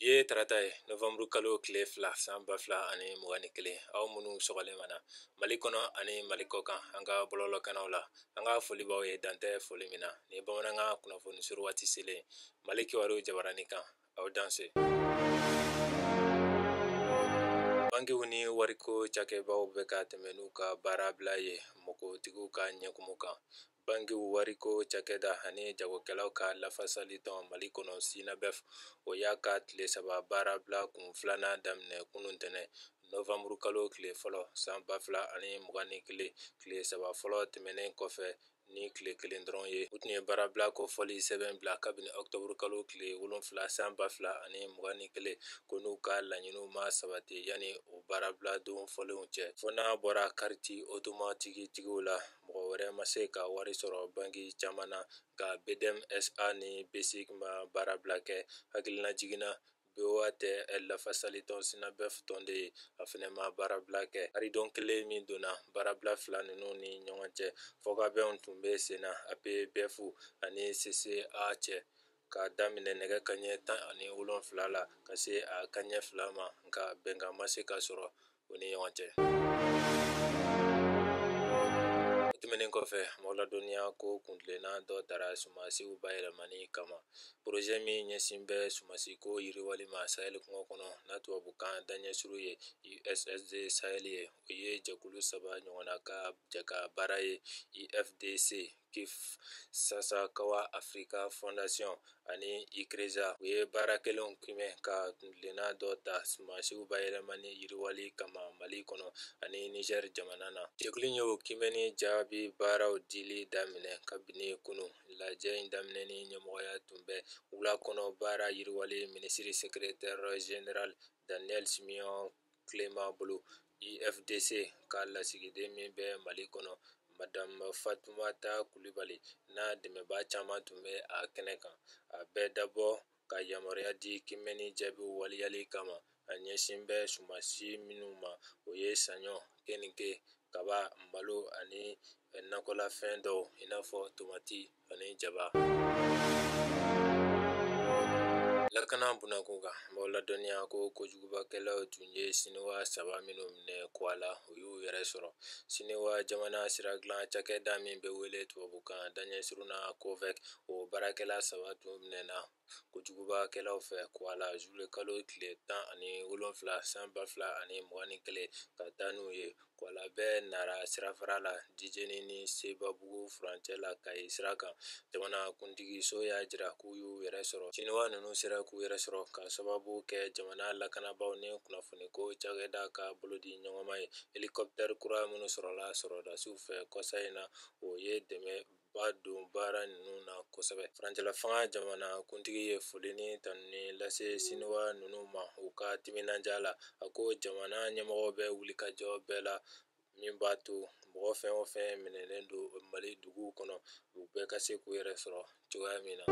Bi ye tarata ye novembre kalo tile fila san ba fila ani mugan ni kelen aw minnu sɔgɔlen b'an na mali kɔnɔ ani mali kɔkan an ka bɔlɔlɔkanaw la an ka foli b'aw ye dan tɛ foli min na ni bamanankan kunnafoni suru waati selen mali kibaru jabarani kan aw danse bankiw ni wariko cakɛbaw bɛ ka tɛmɛ n'u ka baara bila ye mɔgɔtigiw ka ɲɛkumu kan Bankiw wariko cakɛda ani jagokɛlaw ka lafasali tɔn Mali kɔnɔ Synabef o y'a ka tile saba baarabila kun filanan daminɛ kunun ntɛnɛn nɔwanburu kalo tile fɔlɔ san 2021 tile saba fɔlɔ tɛmɛnen kɔfɛ ni tile kelen dɔrɔn ye. U tun ye baarabila kofɔli sɛbɛn bila kabini ɔkutɔburu kalo tile wolonfila san 2021 ko n'u ka laɲiniw ma sabati yanni o baarabila don fɔlenw cɛ, fo n'a bɔra kariti otomatiki tigiw la. mɔgɔ wɛrɛ ma se ka wari sɔrɔ banki caman na nka bdm sa ni bsic ma baara bila kɛ hakililajigin na boa tɛ lafasali tɔn synabef tɔnden ye a fɛnɛ ma baarabila kɛ karidon kelen min donna baarabila fila ninnu ni ɲɔgɔn cɛ fɔkabɛnw tun bɛ senna apbef ani cca cɛ ka daminɛ nɛgɛ kaɲɛ tan ani wolonfila la ka se a kaɲɛ fila ma nka bɛnkan ma se ka sɔrɔ o ni ɲɔgɔn cɛ tɛmɛnen kɔfɛ an b'aw ladɔnniya ko kuntilenna dɔ taara sumasiw bayɛlɛmani kama porozɛ min ɲɛsin bɛ sumasi ko yiriwali ma sahɛli kungo kɔnɔ n'a tubabukan daɲɛsuru ye issd sahɛli ye o ye jɛkulu saba ɲɔgɔnna ka jɛkabaara ye ifdc kit sasakawa afirika fɔndasiyɔn ani icrisat u ye baara kɛlenw kimɛ ka kuntilenna dɔ ta sumasiw bayɛlɛmani yiriwali kama mali kɔnɔ ani nizɛri jamana na jɛkulu in y'o kimɛni jaabi baaraw dili daminɛ kabini kunun lajɛ in daminɛni ɲɛmɔgɔya tun bɛ wula kɔnɔ baara yiriwali minisiri sekretɛrɛ general daniel simeon kelema bolo ifdc ka lasigiden min bɛ mali kɔnɔ madamu fatumata kulibali n'a dɛmɛba caman tun bɛ a kɛnɛ kan a bɛɛ dabɔ ka yamaruya di kimɛni jaabi waleyali kama a ɲɛsin bɛ sumansi minnu ma o ye saɲɔ keninke kaba malo ani nakɔlafɛn dɔw i n'a fɔ tomati ani jaba lakana bunako kan an b'aw ladɔnniya ko kojugubakɛlaw tun ye siniwa saba minnu minɛ kwala u y'u yɛrɛ sɔrɔ siniwa jamana sira dilan cakɛda min bɛ wele tubabukan daɲɛsurun na covec o baarakɛla saba tun minɛna kojugubakɛlaw fɛ kuwala zuluye kalo tile tan ani wolonwula san ba fila ani mugan ni kelen ka taa n'u ye kuwala bɛ nara sirafara la jijeni ni sebabugu furancɛ la kayi sira kan jamanakuntigiso y'a jira k'u y'u yɛrɛ sɔrɔ siniwa ninnu sera k'u yɛrɛ sɔrɔ ka sababu kɛ jamana lakanabaw ni kunnafoniko cakɛda ka bolodiɲɔgɔnma ye elikɔptɛri kura minnu sɔrɔla sɔrɔdasiw fɛ kɔsa in na o ye dɛmɛ ba don baara ninnu na kosɛbɛ furancɛlafanga jamana kuntigi ye foli ni tanuni lase siniwa ninnu ma u ka timinandiya la a ko jamana ɲɛmɔgɔ bɛ wulikajɔ bɛɛ la min b'a to mɔgɔ fɛn o fɛn minɛlen don mali dugu kɔnɔ u bɛɛ ka se k'u yɛrɛ sɔrɔ cogoya min na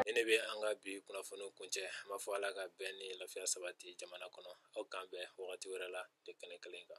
nin de bɛ an ka bi kunnafoni kuncɛ an b'a fɔ ala ka bɛn ni lafiya sabati jamana kɔnɔ aw k'an bɛn wagati wɛrɛ la de kɛnɛ kelen kan